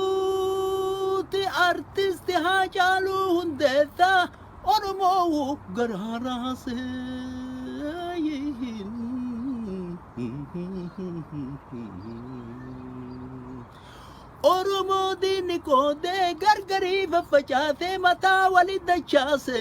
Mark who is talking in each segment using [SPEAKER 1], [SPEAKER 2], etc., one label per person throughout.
[SPEAKER 1] Duuti artisti Haacaaluu Hundeessaa Oromoo garaa raasee. Oromoo diinni qoodee gargarii faffacaasee mataa wali dachaase.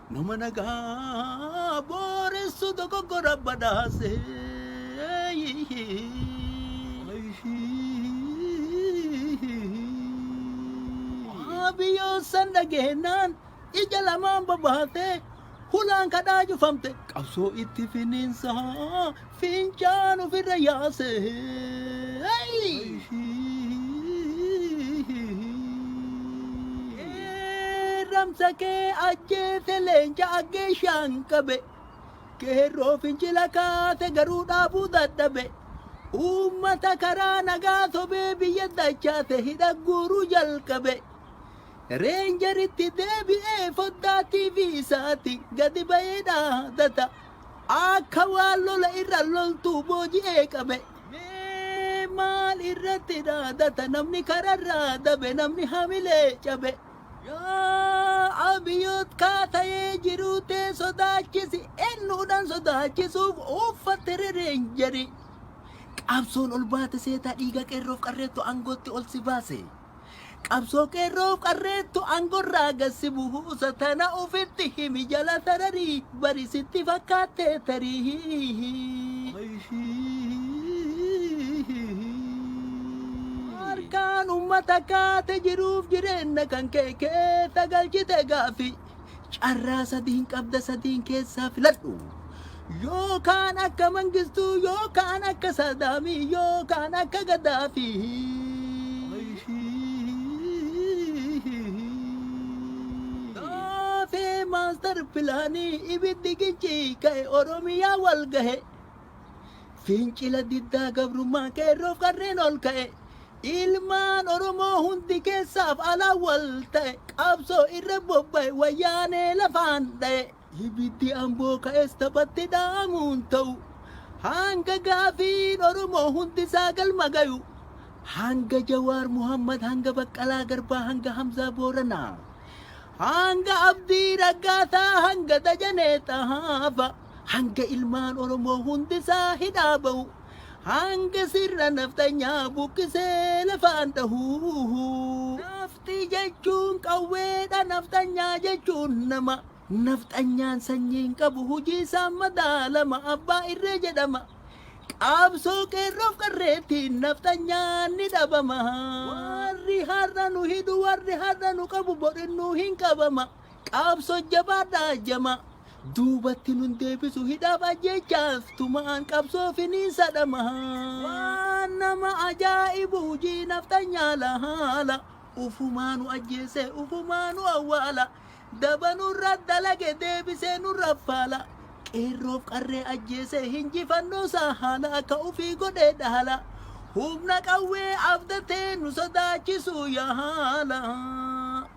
[SPEAKER 1] Nama nagaa booressu dogoggora badhaase. Waabiyyoon san dhageenyaan ija lamaan babaatee hulaan kadhaa cufamte qabsoo itti finiinsaa Fincaan ofirra yaase. Ramsa kee ajjeese leenca aggeeshaan qabe. Keerroo fincila kaase garuu dhaabuu dadhabe. Uummata karaa nagaa sobee biyya dachaase hidha guuruu jalqabe. Reenjeritti deebi'ee foddaa TV isaati gadi ba'ee dhaadata. Akka waan lola irra loltuu booji'ee qabe. Mee maal irratti dhaadata namni kararraa dabe namni hamilee cabe. Yaa Abiyoot kaa ta'ee jiruu tee sodaachisi eennuudhaan sodaachisuuf uuffatte rereenjeri. Qabsoon ol baate seetaa dhiiga qeerroof qarreettu aangootti ol si baase. Qabsoo qeerroof qarreettu angorraa gad si buusa tana ufitti himi jala sarari bari sitti fakkaatte tarii. Harkaan ummata kaate jiruuf jireenna kan kee keessa galchite gaaffii. Carraa sadiin qabda sadiin keessaa filadhu. Yookaan akka Mangistuu yookaan akka Saadaamii yookaan akka Gaddaafii. Gaafee maastar pilaanii ibiddi gichii ka'e Oromiyaa wal gahe. Fincila diddaa gabrummaa qeerroof qarreen ol ka'e. Ilmaan Oromoo hundi keessaaf alaan wal ta'e. Qabsoo irra bobba'e wayyaanee lafaan dha'e. Ibiddi amboo ka'es taphatti dha'amuun ta'u. Hanga gaafiin Oromoo hundi isaa galma gayu. Hanga Jawaar Muhammad, hanga Baqqalaa Garbaa, hanga Hamzaa Booranaa. Hanga Abdii Raggaasaa, hanga Dajanee Xahaafa. Hanga ilmaan Oromoo hundisaa hidhaa bahu. Hanga sirna nafxanyaa buqqisee lafaan dhahu. Nafti jechuun qawweedha nafxanyaa jechuun nama. Nafxanyaan sanyiin qabu hujii isaan madaalama abbaa irree jedhama. Qaabsoo qeerroof qarreettiin nafxanyaan ni dhabama. Warri har'a nu hidhu warri har'a nu qabu bor innuu hin qabama. Qabso jabaadha jamaa. Duubatti nun deebisu hidhaaf ajjeechaaf tumaan qabsoo finiinsa dhamaha. Waan nama ajaa'ibu hujii nafxanyaa lahaala. Ufumaa nu ajjeese ufumaa nu awwaala. Daba nurra dalage deebisee nurra faala. Qeerroof qarree ajjeese hinjifannoo isaa haala akka ufii godhee dhaala. Humna qawwee abdatee nu sodaachisuu yaala.